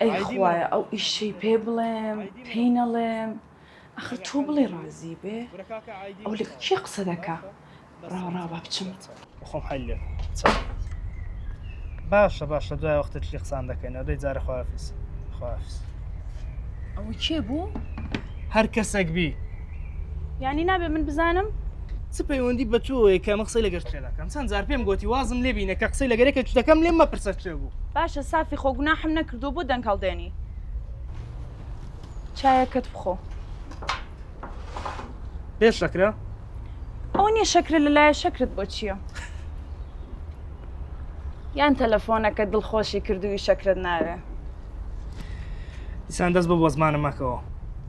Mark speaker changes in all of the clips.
Speaker 1: ئەی خوایە ئەو ئیشەی پێ بڵێم پێی نەڵێم ئەخر تۆ بڵێ ڕازی بێ ئەو لەگە کێ قسە دەکا ڕاوە ڕاوە با بچم. خۆم حەل لێ
Speaker 2: چەم. باشە باشە دوای وەختە تری قسان دەکەینەوە دەی جارە خوافیز خوافیز.
Speaker 1: ئەوە کێ بوو؟ هەر
Speaker 2: کەسێک بی. یعنی
Speaker 1: نابێ من بزانم چ پەیوەندی
Speaker 2: بە تۆیە کە من قسەی لەگەر تێ دەکەم چەند جار پێم گوتی وازم لێ بینە کە قسەی لەگەرێکە دەکەم لێم مەپرسە چێ بوو باشە سافی خۆ
Speaker 1: گوناحم نەکردو بۆ دەنگ هەڵدێنی چایەکەت بخۆ
Speaker 2: پێش شەکرە ئەو
Speaker 1: نیە شەکرە لەلایە شەکرت بۆ چییە؟ یان تەلەفۆنەکە دڵخۆشی کردووی شەکرت ناوێ
Speaker 2: ئیسان دەست بە بۆ زمانە مەکەوە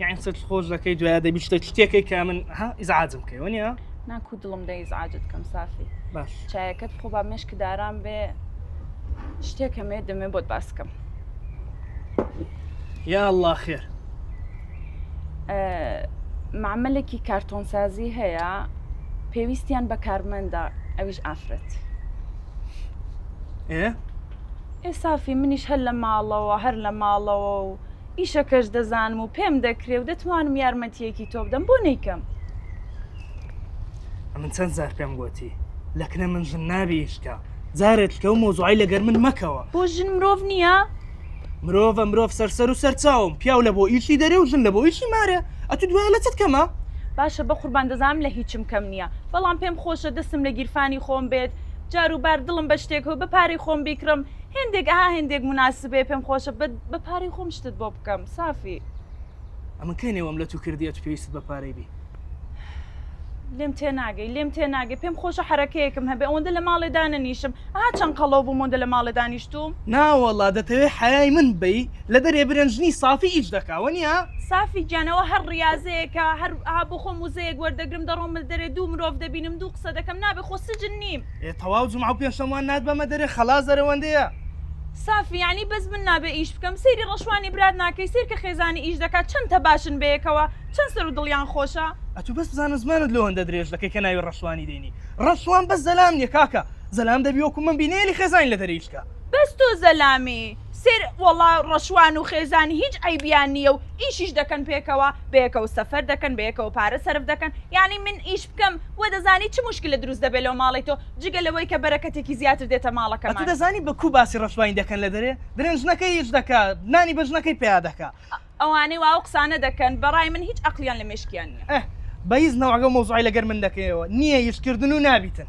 Speaker 2: یاین سەر خۆش دەکەی دوای دەبی شتە شتێکی کە من ها ئیزعاجم کەی وەنیە ناکو دڵم دە
Speaker 1: ئیزعاجت کەم سافی باش چایەکەت
Speaker 2: خۆ با
Speaker 1: مشک داران بێ شتێکەمێ دەمێ بۆت باسکەم
Speaker 2: یا الله خێر
Speaker 1: معملێکی کارتۆنسازی هەیە پێویستیان بە کارمەندە ئەویش ئافرەت ئێ سافی منیش هەر لە ماڵەوە هەر لە ماڵەوە و ئیشەکەش دەزانم و پێم دەکرێ و دەتوانم یارمەتیەکی تۆ بدەم بۆ نیکەم
Speaker 2: من چەند زار پێم گوتی لەکنە من ژن نابیشکە جارێت کە و مۆزوعی لەگەر من مەکەوە بۆ ژن مرۆڤ نییە؟
Speaker 1: مرۆڤە
Speaker 2: مرۆڤ سەرسەر و سەرچاوم پیاو لە بۆ ئیشی دەرێ و ژن لە بۆ ئیشی مارێ ئەتو دوای لە چت کەمە باشە بەقوربان
Speaker 1: دەزانم لە هیچم کەم نییە بەڵام پێم خۆشە دەستم لە گیرفانی خۆم بێت جاروبار دڵم بە شتێک هو بە پارەی خۆم بیکڕم هێندێک ئەها هێندێک مناسبێ پێم خۆشە بە پارەی خۆم شتت بۆ بکەم سافی. ئەمن
Speaker 2: کەی نێوەم لە تو کردی ئەتو پێویستت بە پارەی بی.
Speaker 1: لێم تێ ناگەی لێم تێ ناگەی پێم خۆشە حرەکەیەکم هەبێ ئەوەندە لە ماڵێ دانەنیشم ئا چەند قەڵۆ بووم ئەوەندە لە ماڵێ دانیشتووم ناوەڵا دەتەوێ
Speaker 2: حەیای من بەی لەبەرێ برنجنی سافی ئیش دەکا وەنیە؟ سافی گیان ئەوە
Speaker 1: هەر ڕیازەیەکە هەر ئا بۆ خۆم وزەیەک وەردەگرم دەڕۆم مل دەرێ دوو مرۆڤ دەبینم دوو قسە دەکەم نابێ خۆ سجن نیم. ئێ تەواو جومعە و
Speaker 2: پێنجشەموان نات بەمە دەرێ خەڵاس دەرە وەندەیە. سافی
Speaker 1: یانی بەس من نابێ ئیش بکەم سەیری ڕەشوانی برات ناکەی سەیرکە خێزانی ئیش دەکا چەند تەباشن بەیەکەوە. چەند سەرو دڵیان خۆشە. ئەتو بەس بزانە
Speaker 2: زمانت لۆ هەندە درێژ دەکەی کە ناوی ڕەشوانی دێنی ڕەشوان بەس زەلام نیە کاکە زەلام دەبی وەکو من بی نێلی خێزانی لە دەریچکە. بەس تۆ زەلامی
Speaker 1: سێر وەڵا ڕەشوان و خێزانی هیچ عەیبیان نیە و ئیشیش دەکەن پێکەوە بەیەکەوە سەفەر دەکەن بەیەکەوە پارە سەرف دەکەن یانی من ئیش بکەم وە دەزانی چ موشکلە دروست دەبێ لۆ ماڵی تۆ جگە لەوەی کە بەرەکەتێکی زیاتر دێتە ماڵەکەمان. ئەتو دەزانی بە کو باسی
Speaker 2: ڕەشوانی دەکەن لە دەرێ دەرێن ژنەکەی ئیش دەکا نانی بە ژنەکەی پیا دەکا ئەوانەی وا ئەو
Speaker 1: قسانە دەکەن بەڕای من هیچ ئەقڵیان لە مێشکیان
Speaker 2: نیە. ئەه بەیز
Speaker 1: نەوعەگەو
Speaker 2: مەوزوعەی لەگەر
Speaker 1: من
Speaker 2: دەکەیەوە
Speaker 1: نیە
Speaker 2: یش کردن و نابیتن.